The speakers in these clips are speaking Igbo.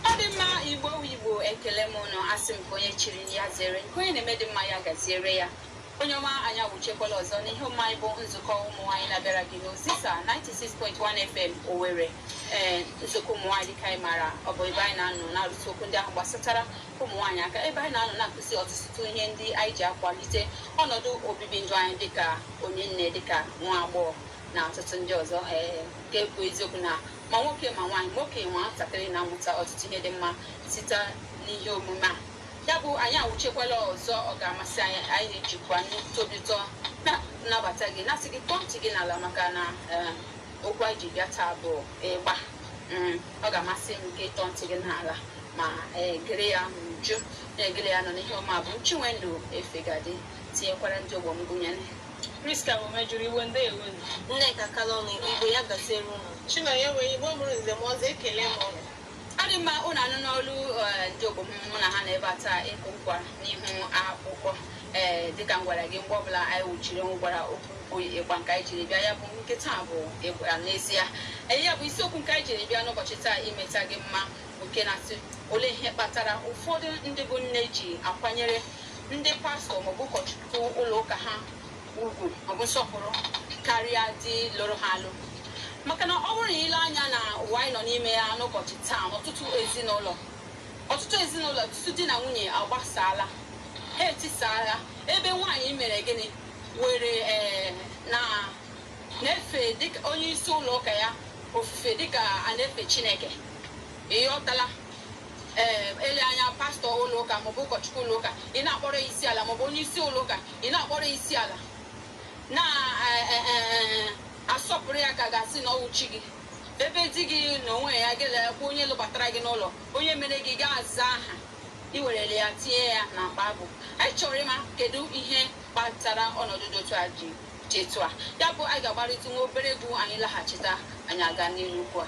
ọ dị mma igbo wu igbo ekele m ụnụ asị m ka onye chiri ya zere nke onye na-eme dị mma ya gaziere ya onye ọma anyị awụchekwala ọzọ n'ihe omume anyị bụ nzukọ ụmụ nwaanyị na-abịara gị n'ozisa 96.1 fm owere ee nzukọ ụmụ nwaanyị dịka anyị maara ọ bụ ebe anyị na-anọ na-arụtụ okwu ndị ahụ gbasatara ụmụ nwaanyị aka ebe anyị na-anọ na-akụzi ọtụtụ ihe ndị anyị ji akwalite ọnọdụ obibi ndụ anyị dịka onye nne dịka nwa agbọghọ na ọtụtụ ndị ọzọ ee nke bụ eziokwu na ma nwoke ma nwaanyị ma okenye ma nwatakịrị na-amụta ọtụtụ ihe dị mma site n'ihe omume a ya bụ anyị awụchekwala ọzọ ọ ga-amasị anyị anyị na-ejikwa nnukwu obi ụtọ na-anabata gị na-asị gị tọọ ntị gị n'ala maka na ee, okwu anyị ji bịa taa bụ ịgba Mm, ọ ga-amasị m gị ịtọ ntị gị n'ala ma ee, gere ya n'uju na-egere ya nọ n'ihe omume bụ Chinwendu Efegadi tinyekwara ndị ogbo m gụnyere Priska Omejuru Iwe ndeewo nụ. Nneka Kalọnụ Igbo ya gaziere unu Chinonye wee Igbo mụrụ nze mụọ ọzọ ekele m unu ọ dị mma ụnụ anụna olu eh, ndị ogbo m mụ na ha nọ ebe a taa ịkụ nkwa n'ihu akwụkwọ ee dịka m gwara gị mgbe ọbụla anyị wụchiri m gwara okwu bụ ịgba nke anyị jiri bịa ya bụ nke taa bụ ịgba n'ezie Ee, ya bụ isiokwu nke anyị jiri bịa n'ụbọchị taa imeta gị mma nke na-asị olee ihe kpatara ụfọdụ ndị bụ nne ji akwanyere ndị pastọ maọbụ ụkọchukwu ụlọ ụka ha ugwu maọbụ nsọpụrụ karịa di lụrụ ha alụ maka na ọ bụrụ na i lee anya na ụwa anyị nọ n'ime ya n'ụbọchị taa ọtụtụ ezinụlọ ọtụtụ ezinụlọ ọtụtụ di na nwunye agbasaala ha etisaala ebe nwaanyị mere gịnị were ee eh, na na-efe dịka onye isi ụlọ ụka ya ofufe dịka a na-efe chineke ịghọtala ee ele anya pastọ ụlọ ụka maọbụ ụkọchukwu ụlọ ụka ị na-akpọrọ ya isi ala maọbụ onye isi ụlọ ụka ị na-akpọrọ ya isi ala na-asọpụrụ ya ka a ga-asị na ọ wụ chi gị ebe di gị na onwe ya ga-elekwa onye lụbatara gị n'ụlọ onye mere gị ga-aza aha i werele ya tinye ya na mkpa abụ anyị chọrọ ịma kedu ihe kpatara ọnọdụ dị otu a ji dị etu a ya bụ anyị ga-agbarịta nwa obere egwu anyị laghachita anyị aga n'ihu ugbu a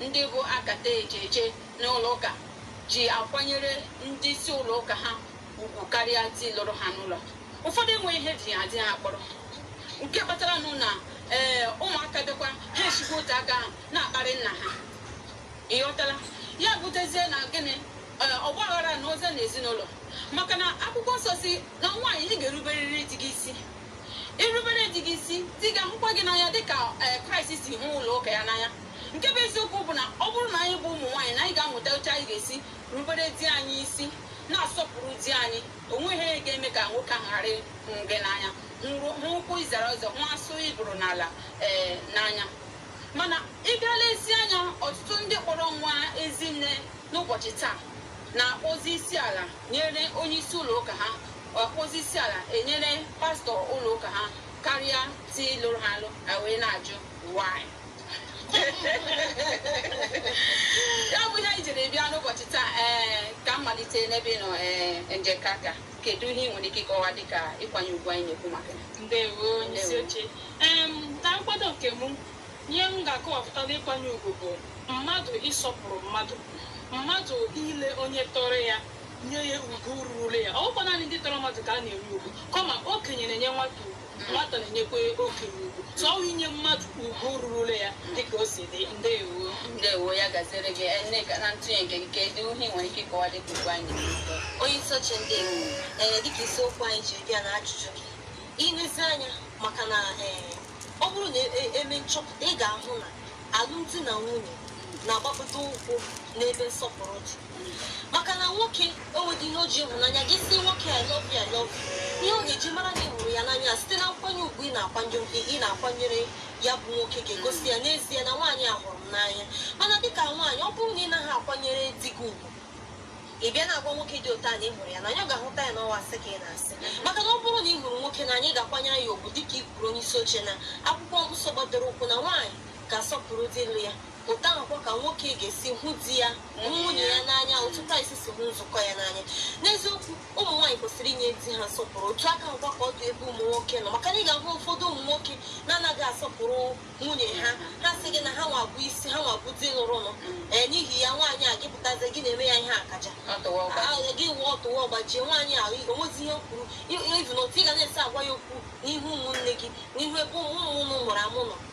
Ndị bụ akata eje eje n'ụlọụka ji akwanyere ndị isi ụlọụka ha ugwu karịa di lụrụ ha n'ụlọ. Ụfọdụ enweghị ihe ji ha di ha kpọrọ nke kpatara nụ na ee ụmụaka bịakwa ha esikwa otu aka ahụ na-akparị nna ha ịghọtala ya butezie na gịnị ee ọgba aghara na oze na ezinụlọ maka na akwụkwọ nsọ sị na nwaanyị ị ga-eruberiri di gị isi i rubere di gị isi di gị ahụkwa gị n'anya dịka ee kraịst si hụ ụlọ ụka ya n'anya nke bụ eziokwu bụ na ọ bụrụ na anyị bụ ụmụ nwaanyị na anyị ga-amụta otu anyị ga-esi rubere di anyị isi na-asọpụrụ di anyị o nweghị ihe ga-eme ka nwoke ahụ ghara ịhụ gị n'anya hụ ụkwụ ị zara ụzọ hụ asụ ị bụrụ n'ala ee n'anya mana ị bịa lezie anya ọtụtụ ndị kpọrọ onwe ha ezinne n'ụbọchị taa na-akpọzi isi ala nyere onye isi ụlọ ụka ha akpọzi isi ala enyere pastọ ụlọ ụka ha karịa di lụrụ ha alụ wee na-ajụ why ya bụ ihe anyị jiri bịa n'ụbọchị taa ee ka m malite n'ebe ị nọ ee njekaka kedu ihe ị nwere ike ịkọwa dịka ịkwanye ugwu anyị na-ekwu maka ya ndewo onye isi oche em na nkwado nke mụ ihe m ga-akọwapụta n'ịkwanye ugwu bụ mmadụ ịsọpụrụ mmadụ mmadụ ile onye tọrọ ya nye ya ugwu ruru ya ọ bụghịkwa naanị ndị tọrọ mmadụ ka a na-enye ugwu kama okenye na-enye nwata ugwu Nwata na-enyekwa okenye ugwu. So ọ inye mmadụ ugwu rurula ya dịka o si dị. Ndewo. Ndewo ya gaziere gị Nneka na ntụnye nke gị kedu ihe ị nwere ike ịkọwa dịka ugwu anyị n'ụzọ onye isi oche ndewo ee dịka isiokwu anyị ji bịa na ajụjụ gị i lezie anya maka na ee ọ bụrụ na e- e- eme nchọpụta ị ga-ahụ na alụmdi na nwunye na-agbakọta ụkwụ n'ebe nsọpụrụ dị maka na nwoke o nweghị ihe o ji ịhụnanya gị sị nwoke I love you, I love you. ihe ọ ga-eji mara na ị hụrụ ya n'anya site na nkwanye ugwu ị na-akwanye ugwu ị na-akwanyere ya bụ nwoke ga-egosi ya n'ezie na nwaanyị a hụrụ m n'anya mana dịka nwaanyị ọ bụrụ na ị naghị akwanyere di gị ugwu ị bịa na-agwa nwoke dị otu a na ị hụrụ ya n'anya ọ ga-ahụta ya na ọ wụ asị ka ị na-asị maka na ọ bụrụ na ị hụrụ nwoke n'anya ị ga-akwanyere ya ugwu dịka ị kwuru onye isi oche na akwụkwọ nsọ gbadoro ụkwụ na nwaanyị ga-asọpụrụ di lụrụ ya otu ahụkwa ka nwoke ga-esi hụ di ya hụ nwunye ya n'anya otu kraịst si hụ nzukọ ya n'anya n'eziokwu ụmụ nwaanyị kwesịrị inye di ha nsọpụrụ otu aka ahụkwa ka ọ dị ebe ụmụ nwoke nọ maka na ị ga-ahụ ụfọdụ ụmụ nwoke na-anaghị asọpụrụ nwunye ha ha sị gị na ha nwa bụ isi ha nwa bụ di lụrụnụ ee n'ihi ya nwaanyị a gị pụta ezi gị na-eme ya ihe akaja gị wụọ ọtụwa ọ gbajie nwaanyị a o nwezi ihe kwuru ivu na otu ị ga na-esi agwa ya okwu n'ihu ụmụnne gị n'ihu ebe ụmụ unu mụrụ amụ nọ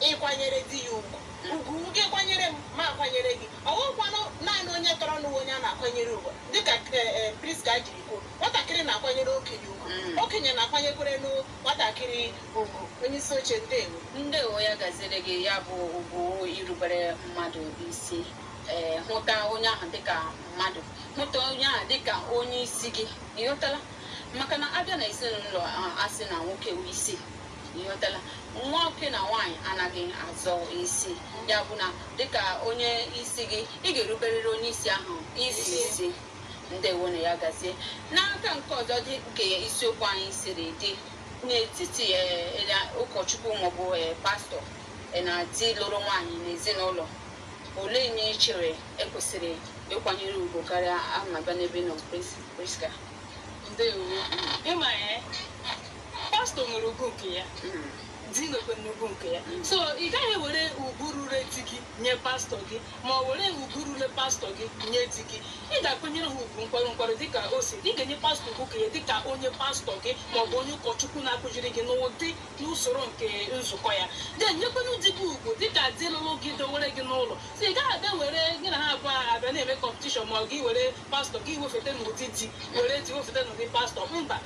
ịkwanyere di ya ugwu ugwu nke kwanyere m mụ akwanyere gị ọ bụghịkwanụ naanị onye tọrọnụ wụ onye a na-akwanyere ugwu dịka Prisca jiri kwuo nwatakịrị na-akwanyere okenye ugwu okenye na-akwanyekwerenụ nwatakịrị ugwu onye isi oche ndewo ndewo ya gaziere gị ya bụ ugwu irubere mmadụ isi ee hụta onye ahụ dịka mmadụ hụta onye ahụ dịka onye isi gị ị ghọtala maka na a bịa na ezinụlọ a, a sị na nwoke wụ isi Ịghọtala? Nwoke na nwaanyị anaghị azọ isi. Ya bụ na dịka onye isi gị, ị ga-eruberịrị onye isi ahụ isi isi. Ndewo na ya gazie. N'aka nke ọzọ dịka isiokwu anyị siri dị n'etiti eh, eh, na ụkọchukwu maọbụ eh, pastọ eh, na di lụrụ nwaanyị n'ezinụlọ olee onye ị chere e kwesịrị ịkwanyere ugwu karịa ama bịa n'ebe ị nọ Pris- Priska ndewo ịma ya pastọ nwere ugwu nke ya di nwekwanụ ugwu nke ya so ị gaghị ewere ugwu ruru di gị nye pastọ gị ma ọ were ugwu ruru pastọ gị nye di gị ị ga-akwanyere ha ugwu nkwarụ nkwarụ dịka o si ị ga-enye pastọ ugwu nke ya dịka onye pastọ gị ma ọ bụ onye ụkọchukwu na-akụziri gị n'ụdị n'usoro nke nzukọ ya then nyekwanụ di gị ugwu dịka di lụrụ gị dowere gị n'ụlọ so ị gaghị abịa were gị na ha abụọ abịa na-eme kọmpetishọn ma ọ gị were pastọ gị wefeta n'ụdị di were di wefeta n'ụdị pastọ mba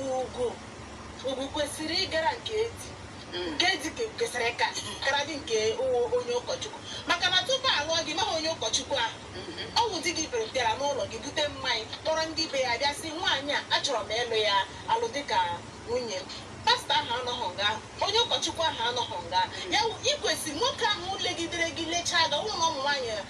ugwu ugwu kwesịrị ịgara nke di nke di ke- kwesịrị ịka karịadị nke onye ụkọchukwu maka na tupu a lụọ gị ị maghị onye ụkọchukwu ahụ ọ bụ di gị bịara bịara n'ụlọ gị bute mmanya kpọrọ ndị be ya bịa sị nwaanyị a achọrọ m ịlụ ya alụ dịka nwunye m pastọ ahụ anọghị nga ahụ onye ụkọchukwu ahụ anọghị nga ya wụ- ị kwesịrị nwoke ahụ legidere gị lechaa gị ọ bụrụ na ụmụ nwaanyị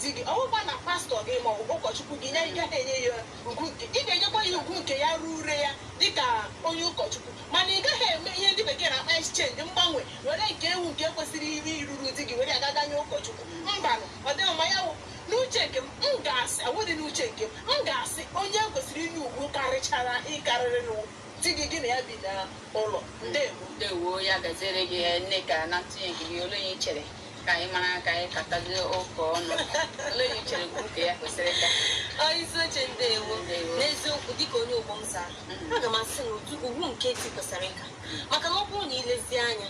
di gị, ọ bụghịkwa na pastọ gị ma ọ bụ ụkọchukwu gị ya ị gaghị enye ya ugwu nke ị ga-enyekwa ya ugwu nke ya ruru ya dịka onye ụkọchukwu mana ị gaghị eme ihe ndị bekee na-akpọ exchange mgbanwe were nke ugwu nke kwesịrị iri iruru di gị were gaa ga nye ụkọchukwu mbanụ ọ dịghị mma ya wụ n'uche nke m m ga-asị ọ wụdị n'uche nke m m ga-asị onye e kwesịrị inye ugwu karịchara ịkarịrị na ọ wụ di gị gị na ya bi n'ụlọ ndewo ndewo ya gaziere gị Nneka na ntụnye gị olee ihe i chere ka anyị mara ka anyị katazie ụka ọnụ olee onye i chere nke ya kwesịrị ịka onye isi oche ndewo n'eziokwu dịka onye ogbo m zara mm. aga m asị na ugwu nke di kwesịrị ịka maka na ọ bụrụ na i lezie anya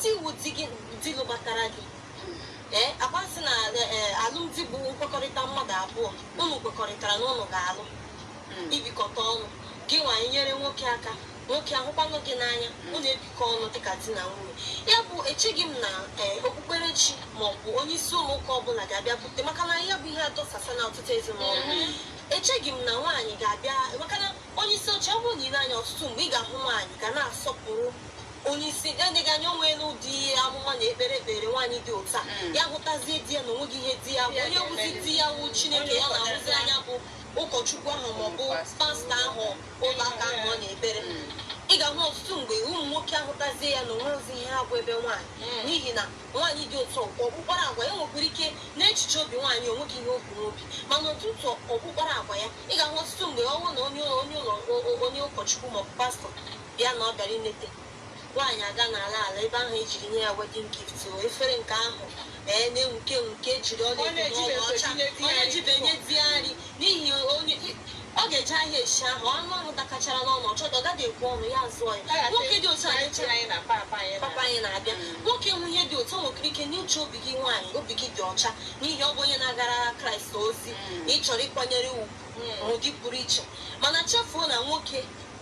di wụ di lụbatara gị mm. ee eh, agbasị na eh, eh, alụmdi bụ nkwekọrịta mmadụ abụọ unu kwekọrịtara na unu ga-alụ mm. ibikọta ọnụ gị nwaanyị nyere nwoke aka nwoke ahụkwanụ gị n'anya unu ebikọ ọnụ dịka di na nwunye ya bụ echeghị m na ee eh, okpukperechi ma ọ bụ onye isi ụlọ ụka ọbụla ga-abịa bute maka na ya bụ ihe adọsasala ọtụtụ ezinụlọ mm-hmm. echeghị m na nwaanyị ga-abịa maka na onye isi oche ọ bụrụ na i lee anya ọtụtụ mgbe ị ga-ahụ nwaanyị ga na-asọpụrụ onye isi ya dịghị anya onwe n'ụdị ihe amụma na ekpere ekpere nwaanyị dị otu a mm. ya hụtazie di ya na onweghị ihe di ya bụ onye wụzi di ya wụ chineke ya na-ahụzi anya bụ ụkọchukwu ahụ maọbụ pastọ ahụ ụlọ ụka ahụ ọ na-ekpere ị ga-ahụ ọtụtụ mgbe ụmụ nwoke ahụtazie ya na onweghịzi ihe ha bụ ebe nwaanyị hmm. n'ihi na nwaanyị dị otu ọkpọ ọkpụkpara agwa ya nwekwara ike n'echiche obi nwaanyị onweghị ihe o bu n'obi mana ọtụtụ ọkpụkpara agwa ya ị ga-ahụ ọtụtụ mgbe ọ wụrụ na onye ụlọ onye ụkọchukwu maọbụ pastọ bịa na ọ bịara ileta Nwaanyị aga n'ala ala ebe ahụ ejiri nye ya wedding gift o efere nke ahụ ee na-enwuke enwuke jiri ọla edo ọla ọcha ọ na-ejibe nye di ya nri n'ihi onye ọ ga-eje ahịa esi ahụ anụ ahụ dakachara n'ọnụ ọ chọta ọ gaghị ekwu ọnụ ya zụọ ya nwoke dị otu a na-eche papa anyị na-abịa nwoke nwe ihe dị otu o nwekwara ike n'uche obi gị nwaanyị obi gị dị ọcha n'ihi ọ bụ onye na-agara kraịst ozi na ị chọrọ ịkwanyere ugwu n'ụdị pụrụ iche mana chefuo na nwoke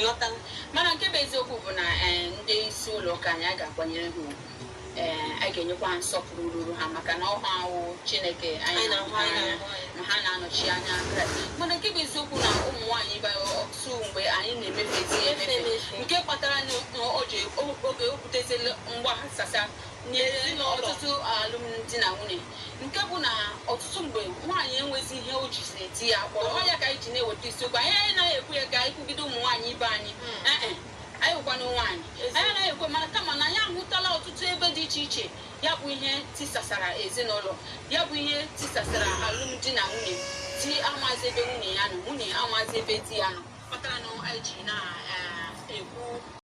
ịghọtala mana nke bụ eziokwu bụ na eh, ndị isi ụlọ ụka anyị a ga-akwanyere ha ugwu ee a ga-enyekwa ha nsọpụrụ ruru ha maka na ọ ha wụ chineke anyị na-ahụ anya. na ha na-anọchi anya kraịst mana nke bụ eziokwu na ụmụ nwaanyị ibe anyị ọtụtụ mgbe anyị na-emefezi ya emefe nke kpatara na o ji oge o butezila mgbaghasasa nyere n'ọtụtụ alụmdi na nwunye nke bụ na ọtụtụ mgbe nwaanyị enwezi ihe o jiziri di ya kpọrọ ọ ya ka anyị ji na-eweta isiokwu a anyị anaghị ekwu ya ka anyị kwugide ụmụ nwaanyị ibe anyị Ee e, anyị wụkwana nwaanyị anyị anaghị ekwe mana kama na anyị ahụtala ọtụtụ ebe dị iche iche ya bụ ihe tisasara ezinụlọ ya bụ ihe tisasara alụmdi na nwunye di amazi ebe nwunye ya nọ nwunye amazi ebe di ya nọ kpatara na anyị ji na-ekwu